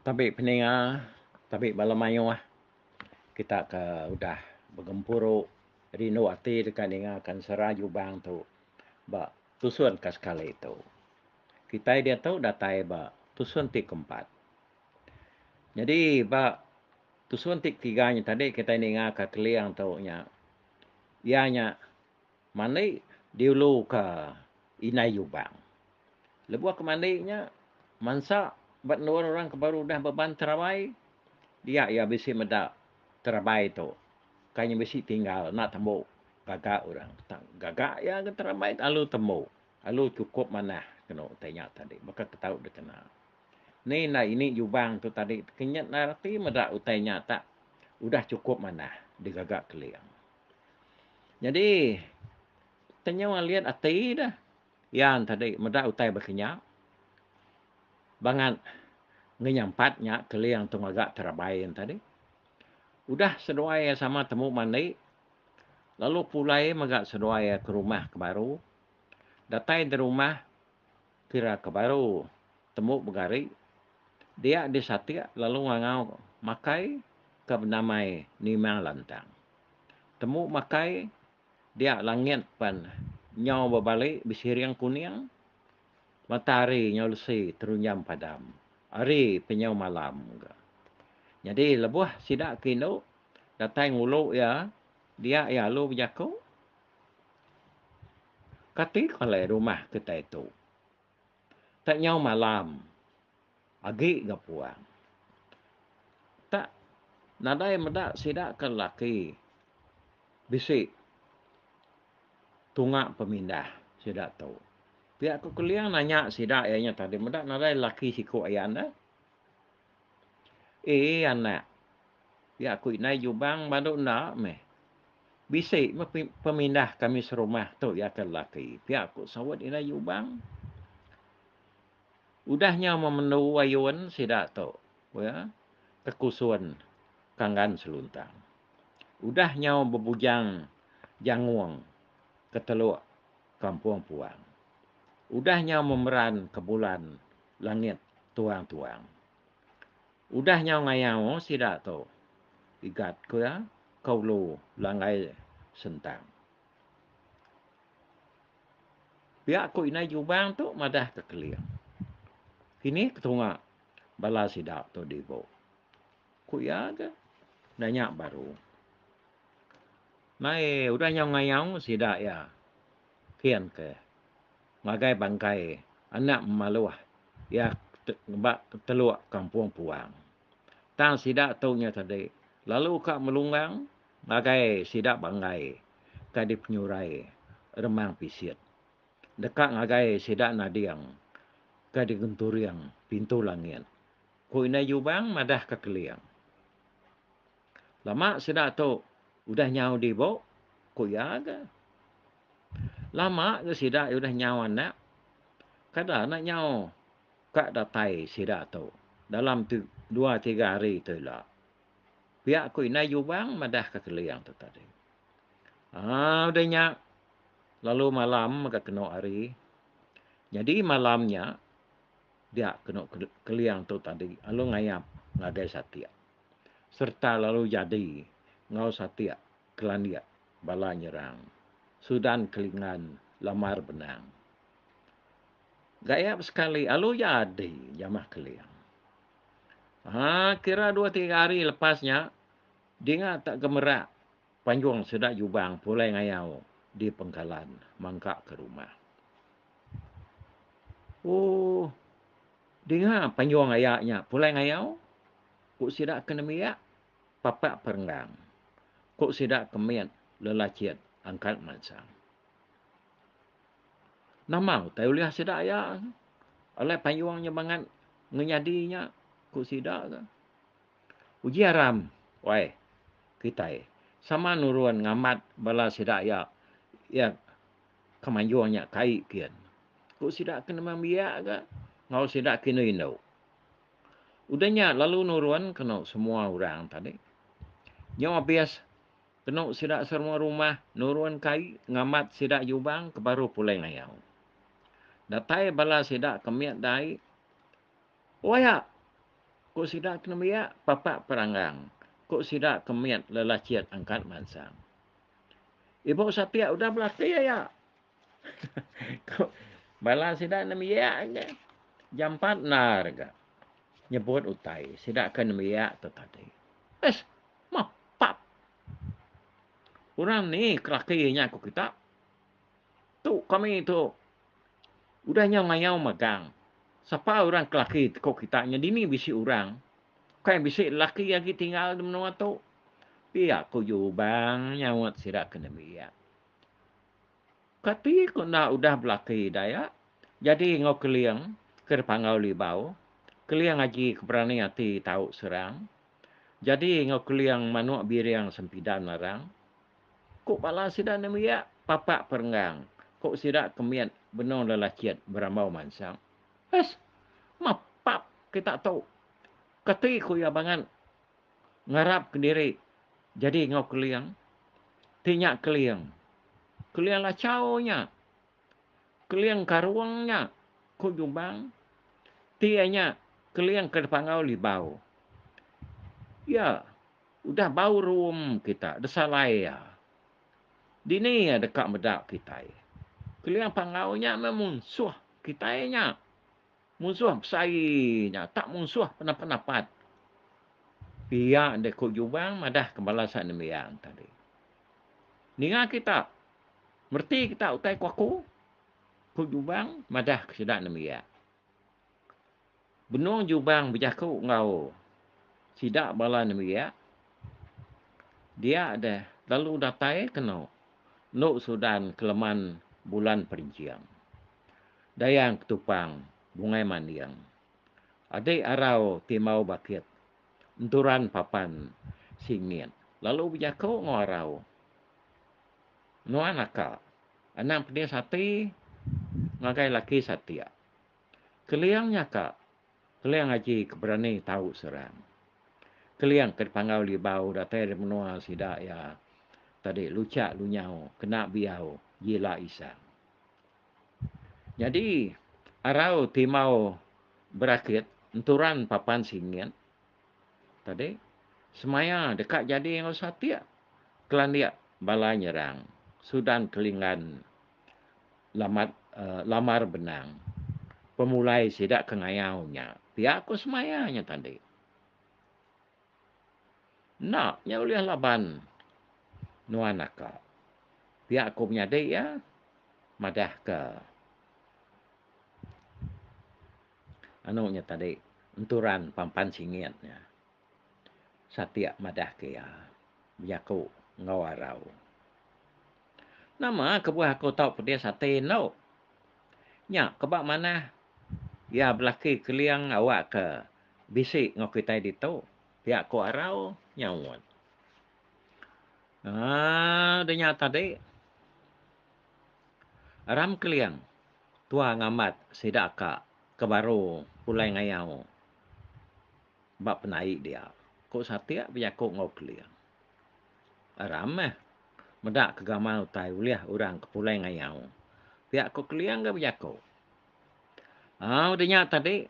Tabi peninga tabi bala mayuh kita ke udah begempuru rindu ati deka ninga kan sera jubang tu ba tusun ka sekali tu. Kitai diatu datai ba tusun ti ke empat. Nyadi ba tusun ti ke tiga nya tadi kitai ninga ka Keling tu nya iya nya Mandi diulu ka indai lubang. Lebuh aku mandi nya mansa ba endur orang ke baru udah beban terabai dia iya bisi meda terabai tu kai nya bisi tinggal enda tembu gaga orang tang gaga iya ke terabai lalu tembu lalu cukup manah kenu utai nya tadi baka ke tau dikena. Ni enda ini lubang tu tadi ke nyat enda reti meda utai nya tak udah cukup manah digaga keling. Nyadi tenyau alit ati deh yan tadi meda utai bakanya bangat ngenyampat nya keling tu ngaga terabai yan tadi udah seduai iya sama temu mandi lalu pulai mega seduai iya ke rumah ke baru datai di rumah. Kira ke baru tembu begari dia disatik lalu ngangau makai ke benamai nimang lantang. Tembu makai dia langit pan nyau bebali besiring kuning, matahari nyau lesi terunjam padam, hari pe nyau malam ga. Nyadi lebuh sida ke indu datai ngulu iya dia iya alu bejaku. Kati ke alai rumah kitai tu. Tak nyau malam agi ga puang. Tak nadai meda sida ke lelaki bisi tunga pemindah sida tu. Pia ko Keling nanya sida iya nya tadi meda nadai lelaki siku ayan deh. Ee anak, ya aku indai jubang badu enda meh. Bisi meh pemindah kami serumah tu ya ke lelaki, pia ku saut indai jubang. Udah nyau memendu ayun sida tu ya ke kusun Kanggan Seluntang. Udah nyau bebujang Jangong ke Teluk Kampung Puang. Udah nyau memeran ke bulan langit tuang-tuang. Udah nyau ngayau sida tu, igat ku iya ka ulu langgai sentang. Pia ku indai Jubang tu madah ka Keling. Kinih ketunga bala sida tu dibu. Ku iya ga nanya baru. Mai udah nyau ngayau sida iya. Kin ke. Ngagai bangkai anak maluh iya ba teluk kampung puang. Tang sida tu nya tadi lalu ka melunggang ngagai sida banggai ka dipenyurai remang pisit deka ngagai sida nading ka digenturing pintu langit, ku Indai Jubang madah ka Keling. Lama sida tu udah nyau dibu, ku iya ga. Lama ga sida udah nyau anak, kada enda nyau ka datai sida tu dalam dua tiga hari tu ila, pia ku indai Jubang madahka Keling tu tadi. Um udah nya lalu malam mega kenu hari. Nyadi malam nya dia kenu Keling tu tadi lalu ngayap ngagai satik. sereta lalu jadi enggau satik kelandik bala nyerang Sudan ke Lingan Lamar Benang. Gaya besekali alu jadi jamah Keling. Ha, kira dua tiga hari lepas nya, dinga tak gemerak panjung sida Jubang pulai ngayau di Pengkalan mangka ke rumah. Oh. Dinga panjung aya nya pulai ngayau, ku sida ke nembiak papak perenggang, ku sida ke mit lelachit angkat mansang. Nama utai ulih sida aya alai panjung nya bangat ngenyadi nya, ku sida ke. Uji aram wai kitai sama nurun ngambat bala sida aya iya. ke mayuh nya kai kin. Ku sida ke nemu biak ga enggau sida ke indu indu. Udah nya lalu nurun kenu semua orang tadi. Nyau abis kenu sida serumah rumah nurun kai ngamat sida jubang ke baru pulai ngayau. Datai bala sida ke mit dai. Oi ak! Ku sida ke nembiak papak peranggang. Ku sida ke mit lelachit angkat mansang. Ibuh sapiak udah belaki aya. Ku bala sida nembiak aja. Jam empat endar ga nyebut utai sida ke nembiak tu tadi. Ish, mapap. Orang ni ke laki nya ku kita. Tu kami tu Udah nya ngayau magang. Sapa orang kelaki tko kita nya dini bisi orang. Ukai bisi lelaki agi tinggal di menua tu. Pia ko Jubang nyaut sida ke nembiak. Kati ko enda udah belaki Dayak jadi enggau Keling ke dipanggau Libau. Keling agi ke berani ati tau serang. Jadi enggau Keling manuk biring sempidan nerang. Ku bala sida nembiak papak perenggang, ku sida ke mit benung lelachit berambau mansang. Hais! Mapap kita tu! Kati ku iya bangat ngarapka diri jadi enggau Keling? Ti nya Keling. Keling lachau nya. Keling karung nya, ku Jumbang. Ti iya nya Keling ke dipanggau Libau. Ya. Udah bau ruum kita desalai iya. Dini iya deka meda kitai. Keling panggau nya meh munsuh kitai nya. Munsuh besai nya tak munsuh penapat-napat. Pia deh ku Jubang madah kembala Sa'e Nembiang tadi. Ninga kita. Mereti kita utai ku aku. Ku Jubang madah ke sida Nembiak. Benung Jubang bejaku enggau sida bala nembiak, Dia deh lalu datai ke eno enu Sudan keleman bulan Perinjing. Dayang Ketupang, Bungai Manding, Adik Arau Timau Bakit, Enturan Papan Singit lalu bejaku enggau Arau, Nuan aka, anang pedis ati ngagai laki satik. Keliang nya ka Keliang Aji ke berani tau serang. Keliang ke dipanggau Libau datai ari menua sida iya tadi Lucak Lunyau kena Biau Jila Isang. Nyadi arau timau berakit enturan papan singit tadi semaya deka jadi enggau satik kelandik bala nyerang Sudan Kelinggan Lamat lamar benang. Pemulai sida ke ngayau nya. Pia ko semaya nya tadi. Enda nya ulih laban nuan naka. Pia ko menyadi iya madah ke anu nya tadi enturan Pampan Singit nya. Satik madahka iya bejaku enggau arau. Nama kebuah aku tau pedis ati endo. Nya ke ba manah iya belaki keling awakka bisi enggau kitai ditu, pia ku arau nyaut. Aa deh nya tadi aram keling tua ngambat sida ka ke baru pulai ngayau. ba penai dia, ku satik bejaku enggau Keling. Aram meh meda ke gamal utai ulih orang ke pulai ngayau, pia ku Keling ga bejaku. Au udah nya tadi,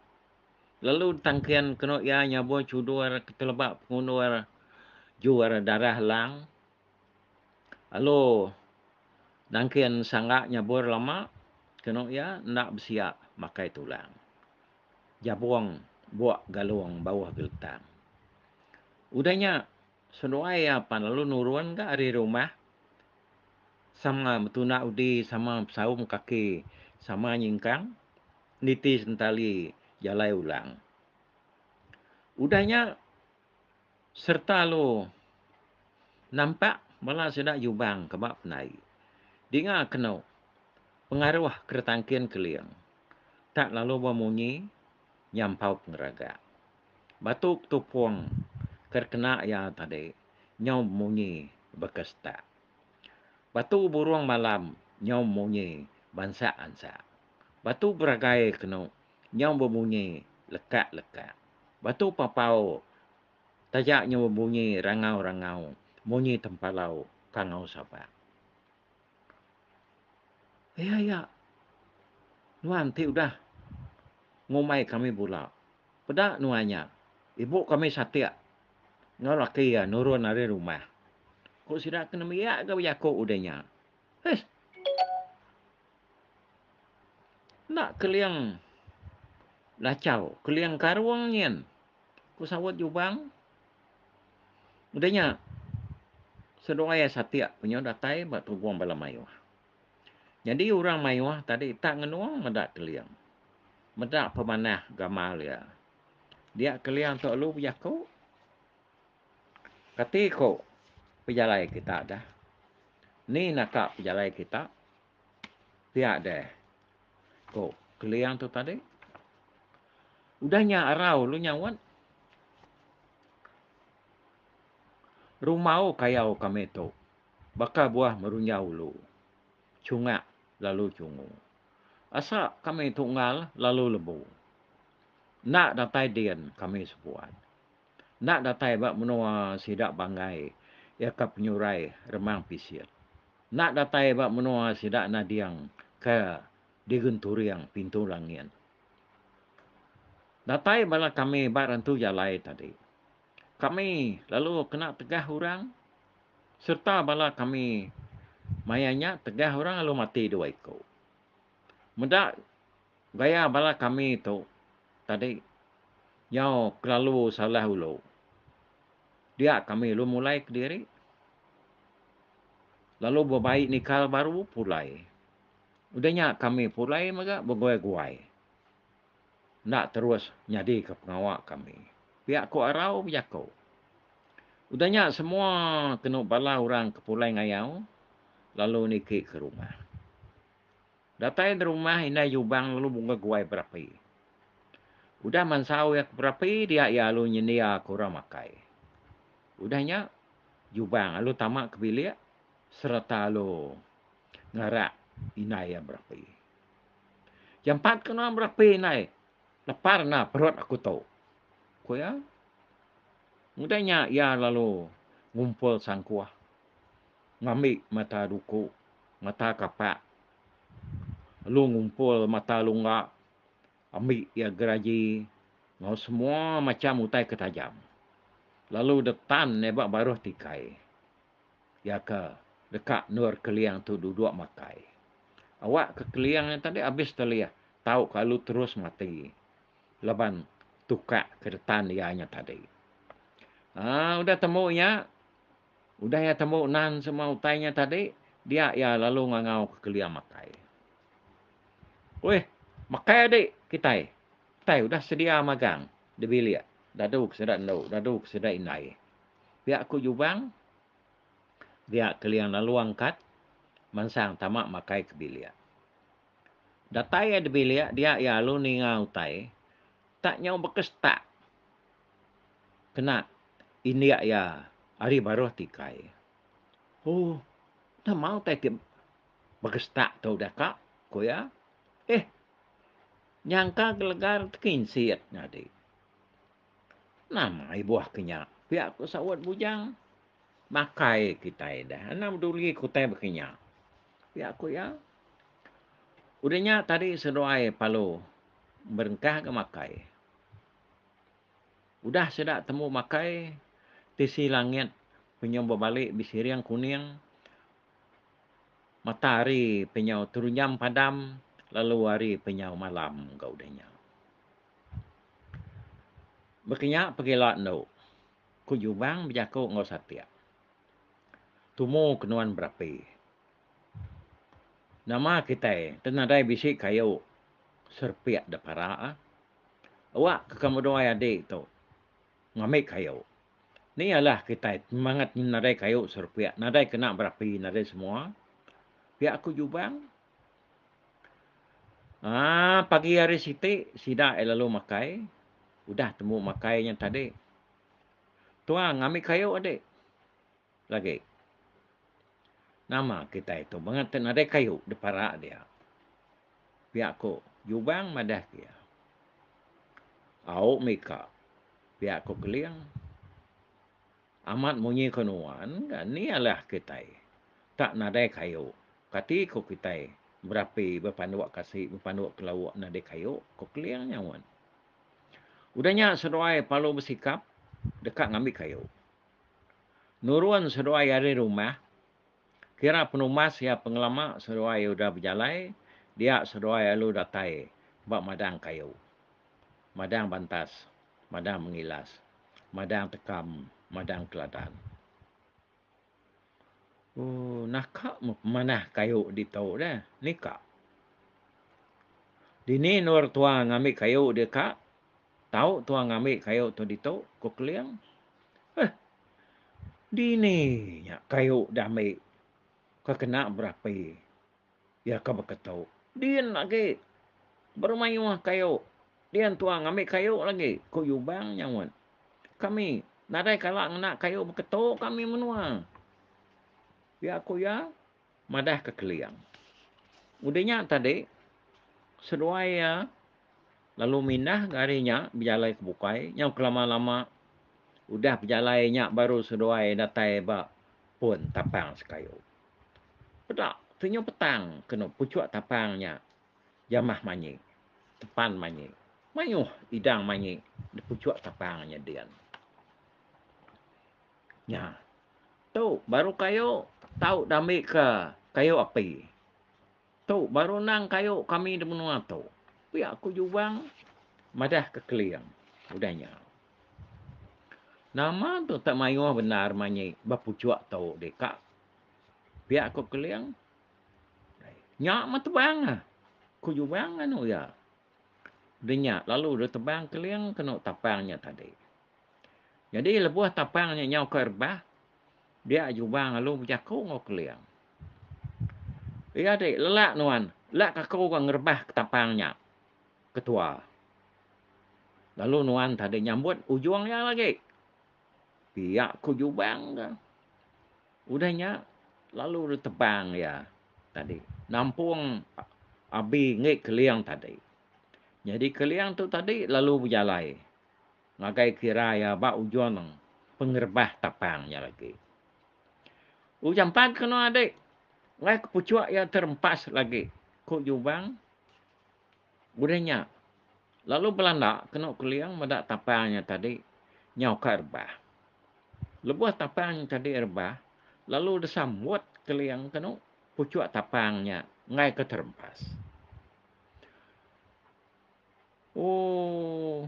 lalu ditangkin kenu iya nyabur chudur ke teleba pengundur jur darah lang lalu nangkin sangga nyabur lama kenu iya enda besia makai tulang. Jabong buak galong bauh geltang. Udah nya, seduai iya pan lalu nurun ga ari rumah sama betunda udi sama besaum kaki sama nyingkang niti sentali jalai ulang. Udah nya, sereta alu nampak bala sida jubang ke ba penai dinga kenu pengaruh keretangkin keling tak lalu ba munyi nyampau pengeraga. Batu petupung ke dikena iya tadi nyau bemunyi baka setak. Batu burung malam nyau bemunyi bansa ansa. Batu beragai kenu nyau bebunyi lekak-lekak. Batu papau taja nyau bebunyi rangau-rangau munyi tempalau kangau sabak. Aya-aya nuan ti udah ngumbai kami bula. Peda nuan nya, ibu kami satik enggau laki iya nurun ari rumah, ku sida ke nembiak ga bejaku udah nya. Heh. Enda keling lachau, keling karung nyin, ku saut Jubang. Udah nya, seduai satik penyu datai ba tubung bala mayuh. Nyadi orang mayuh tadi tak ngenung meda keling. Meda pemanah gamal iya. Dia keling tu alu bejaku. Kati ko pejalai kita dah? Ni naka pejalai kita? Pia deh, ko Keling tu tadi. Udah nya arau lu nyauan. Rumau kayau kami tu baka buah merunjau lu. Chungak lalu chungu. Asa kami tu enggau lalu lebu. Enda datai din kami sebuan. enda datai ba menua sida banggai iya ka penyurai Remang Pisit. Enda datai ba menua sida nading ka digenturing Pintu Langit. Datai bala kami ba Rantu Jalai tadi. Kami lalu kena tegah orang sereta bala kami maya nya tegah orang lalu mati dua iku. Meda Gaya bala kami tu tadi nyau kelalu salah ulu. Dia kami ulu mulai kediri lalu bebai nikal baru pulai. Udah nya kami pulai mega beguai-guai. Enda terus nyadika pengawa kami. Pia ku Arau bejaku. Udah nya semua kenu bala orang ke pulai ngayau lalu niki ke rumah. Datai di rumah indai Jubang lalu bunga guai berapi. Udah mansau iya ke berapi dia iya lalu nyendia ke orang makai. Udah nya Jubang lalu tama ke bilik sereta lalu ngarak indai iya berapi. Jampat ke nuan berapi indai, lapar enda perut aku tu. Ku iya. Udah nya iya lalu ngumpul sangkuh. ngambi mata duku, mata kapak lalu ngumpul mata lungga ambi iya geraji enggau semua macham utai ke tajam lalu dep tan iya ba baruh tikai iya ke deka endur keling tu duduk makai. Awak ke keling nya tadi abis telih tau kalu terus mati laban tukak ke ditan iya nya tadi. Aa udah tembu nya Udah iya tembu nan semua utai nya tadi, dia iya lalu ngangau ke kelia makai. Weh, makai adi kitai. Kitai udah sedia magang di bilik dadu ke sida endu, dadu ke sida indai. Pia ku Jubang, dia kelia lalu angkat mansang tama makai ke bilik. Datai iya di bilik, dia iya lalu ninga utai tak nyau beka setak kena indik iya ari baruh tikai. Oh, enda mau utai ti begestak tu udah ka, ku iya. Eh, nyangka gelegar ti ke insik nyadi. Nama ibuh ke nya? Pia ku saut Bujang. Makai kitai enda enda peduli ke utai baka nya, pia ku iya. Udah nya tadi seduai Palu merengkahka makai. Udah sida tembu makai, tisi langit penyau bebali besiring kuning, mata hari penyau terunjam padam lalu hari penyau malam ga udah nya. Baka nya pegila endo, ku Jubang bejaku enggau satik. Tumu ke nuan berapi. Nama kitai enti nadai bisi kayu serepik da parak? Awak ke kamu duai adi tu ngambi kayu. Ni ialah kitai semangat nyin nadai kayu serepiak, nadai kena berapi, nadai semua. Pia ku Jubang. Haa pagi hari siti sida ai lalu makai. Udah tembu makai nya tadi. Tuang ngambi kayu adik. Lagi. Nama kitai tu mengah ti nadai kayu dipara dia. Pia ku Jubang madah ke iya. Au mika. Pia ku Keling. Amat munyi ke nuan ga ni alah kitai tak nadai kayu. Kati ku kitai berapi bepanduk kasi bepanduk kelauk nadai kayu ku Keling nyaut. Udah nya seduai Palu besikap deka ngambi kayu. Nurun seduai ari rumah, kira penumbas iya pengelama seduai udah bejalai dia seduai alu datai ba madang kayu, madang bantas, madang mengilas, madang tekam, madang keladan. Ooh naka manah kayu ditu dah ni ka. Dini endur tua ngambi kayu dia ka? Tau tua ngambi kayu tu ditu? ku Keling. Heh. Dini nya kayu da ambi ka kena berapi. Iya ka beketu, Din agi. Beremayuh kayu. Dia entua ngambi kayu lagi, ku Yubang nyaut. Kami nadai kala ngena kayu beketu kami menua. Pia ku iya madah ke Keling. Udah nya tadi, seduai iya lalu mindah ga hari nya bejalai ke bukai nyau kelama-lama. Udah bejalai nya baru seduai datai ba pun tapang sekayu. Peda tenyau petang kenu puchuk tapang nya. Jamah manyi. Tepan manyi. Mayuh idang manyi di puchuk tapang nya din. Nya. Tu baru kayu tau dambika kayu api. Tu baru endang kayu kami di menua tu, pia ku Jubang madah ke Keling udah nya. Nama tu tak mayuh bendar manyi ba puchuk tu deh ka, pia ku Keling. Nya meh tebang ah, ku Jubang anu iya. Udah nya lalu deh tebang Keling kenu tapang nya tadi. Nyadi lebuh tapang nya nyau ke rebah, dia Jubang lalu bejaku enggau Keling. Iya ti lelak nuan, lelak ke aku ga ngerebah ketapang nya ketua. Lalu nuan tadi nyambut ujung iya lagi. Pia ku jubang ka. Udah nya lalu dep tebang iya tadi nampung abi ngi Keling tadi. Nyadi Keling tu tadi lalu bejalai ngagai kira iya ba ujung pengerebah tapang nya lagi. Ujan pan kena adi nggai kepuchuk iya terempas lagi, ku Jubang. Udah nya, lalu belanda kenu keling meda tapang nya tadi nyau ka rebah. Lebuh tapang nya tadi rebah, lalu desa mut keling kenu puchuk tapang nya nggai ke terempas. Ooh.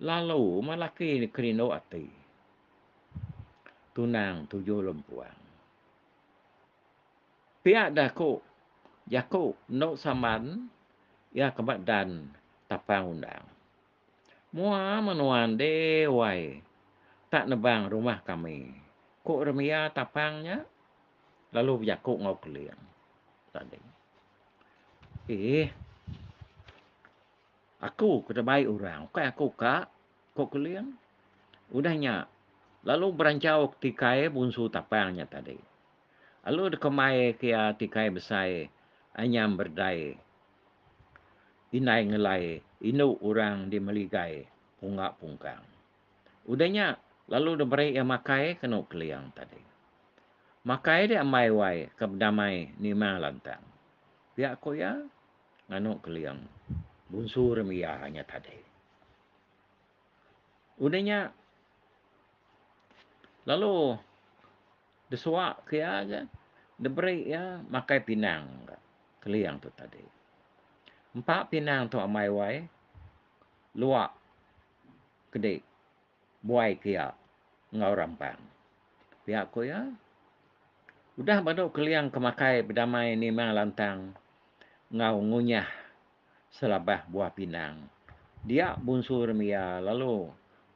Lalu meh laki kerindu ati. Tunang tuju lempuang. Pia deh aku jaku endo saman iya ke ba dan tapang undang. Mua meh nuan deh wai tak nebang rumah kami. Ku Remia tapang nya lalu bejaku enggau Keling tadi. Eh. Aku ke tebai orang, ukai aku ka, ko Keling. Udah nya, lalu beranchau ti kai bunsu tapang nya tadi. Lalu deka mai ke iya ti kai besai anyam berdai indai ngelai indu orang di meligai unga pungkang. Udah nya, lalu deh meri iya makai ke endu Keliang tadi. Makai deh ambai wai ke bedamai nima lantang. Pia ku iya nganu Keliang, Bunsu rim iya nya tadi. Udah nya, lalu deh suwa ke iya ga, deh beri iya makai pinang ga Keliang tu tadi. Empa pinang tu ambai wai luak. kedi buai ke iya enggau rampang. Pia ku iya, udah badu Keliang ke makai bedamai nima lantang enggau ngunyah selabah buah pinang, dia bunsu remi iya lalu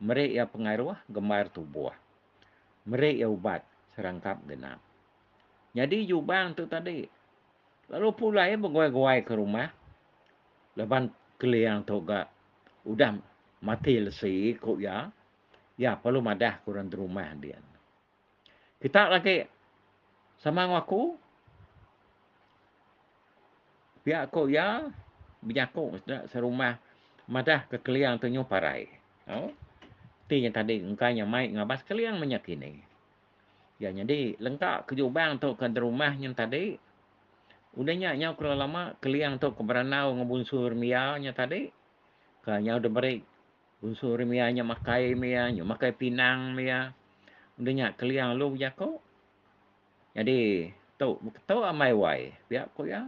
meri iya pengaruh gembar tubuh, meri iya ubat serangkap genap. Nyadi Jubang tu tadi lalu pulai beguai-guai ke rumah laban Keliang tu ga udah mati lesi ku iya, iya perlu madah ke orang ti rumah din. Kita lagi sama enggau aku pia ku iya benyaku enda serumah madah ke Keliang tu nyu parai. Oh. Ti nya tadi engka nya mai ngabas Keliang meh nya kini. Iya nyadi lengka ke Jubang tu ke enti rumah nyin tadi. Udah nya nyau kala lama Keliang tu ke berandau enggau Bunsu Rimia nya tadi. Ka nyau deh meri Bunsu Rimia nya makai mia, nya makai pinang mia. Udah nya Keliang lu bejaku. Jadi tu beketu amai wai pia ku iya.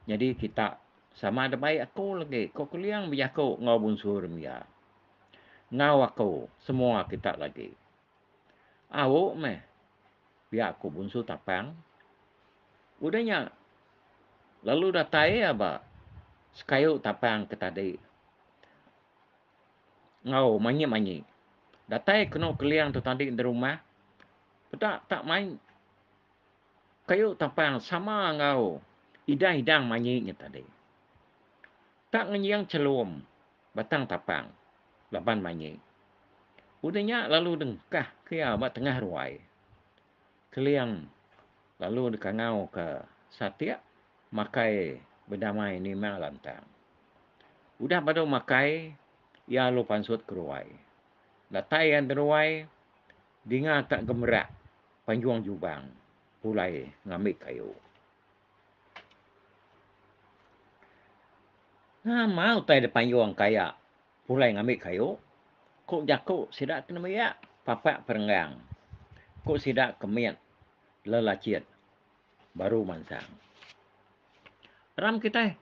Jadi kita sama deh baik aku lagi ku Keliang bejaku enggau Bunsu Rimia. Enggau aku semua kita lagi. Au meh, pia ku Bunsu Tapang. Udah nya lalu datai iya ba sekayu Tapang ke tadi enggau manyi-manyi. Datai kenu Keling tu tadi di rumah, peda tak mai kayu Tapang sama enggau idang-idang manyi nya tadi. Tak ngenjing chelum batang tapang laban manyi. Udah nya lalu dengkah ke iya ba tengah ruai. Keling lalu dikangau ke satik makai bedamai nima lantang. Udah badu makai iya lalu pansut ke ruai. Datai iya di ruai dinga ka gemerak panjung jubang pulai ngambi kayu. Nama utai da payung kaya pulai ngambi kayu? Ku jaku sida ti nembiak papak perenggang. Ku sida ke mit lelachit baru mansang. Ram kitai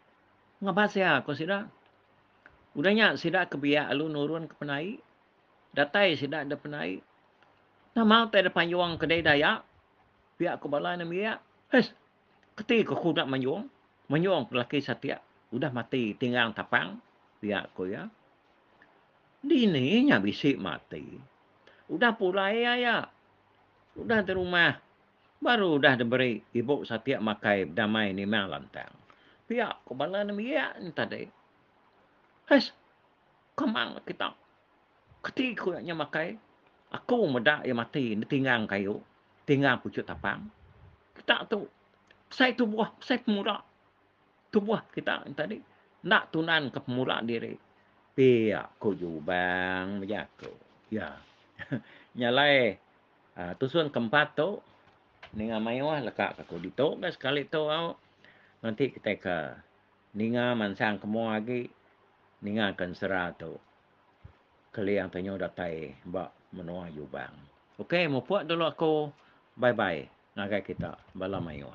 ngebas iya ku sida. Udah nya sida ke biak lalu nurun ke penai. Datai sida da penai. Nama utai da payung ke dei dayak pia ku bala nembiak? Hais! Keti ke aku enda mayung? Mayung ke laki satik udah mati tinggang tapang pia, ku iya. Dini nya bisi mati? Udah pulai aya. Udah di rumah. Baru udah diberi ibu satik makai bedamai nimang lantang, pia ku bala nembiak nya tadi. Hais! Kamang kita. Keti ku nya nya makai aku meda iya mati enda tingang kayu, tingang puchut tapang. Kita tu besai tubuh, besai pemula. Tubuh kita nya tadi enda tunan ke pemula diri. Pia ku Jubang bejaku. Iya. Nya alai a tusun ke empat tu ninga mayuh leka ka aku ditu ka sekali tu au menti kitai ke ninga mansang ke mua agi ninga ke ensera tu. Keling tanyau datai ba menua Yubang. Ok mupuk dulu aku bye bye ngagai kita bala mayuh.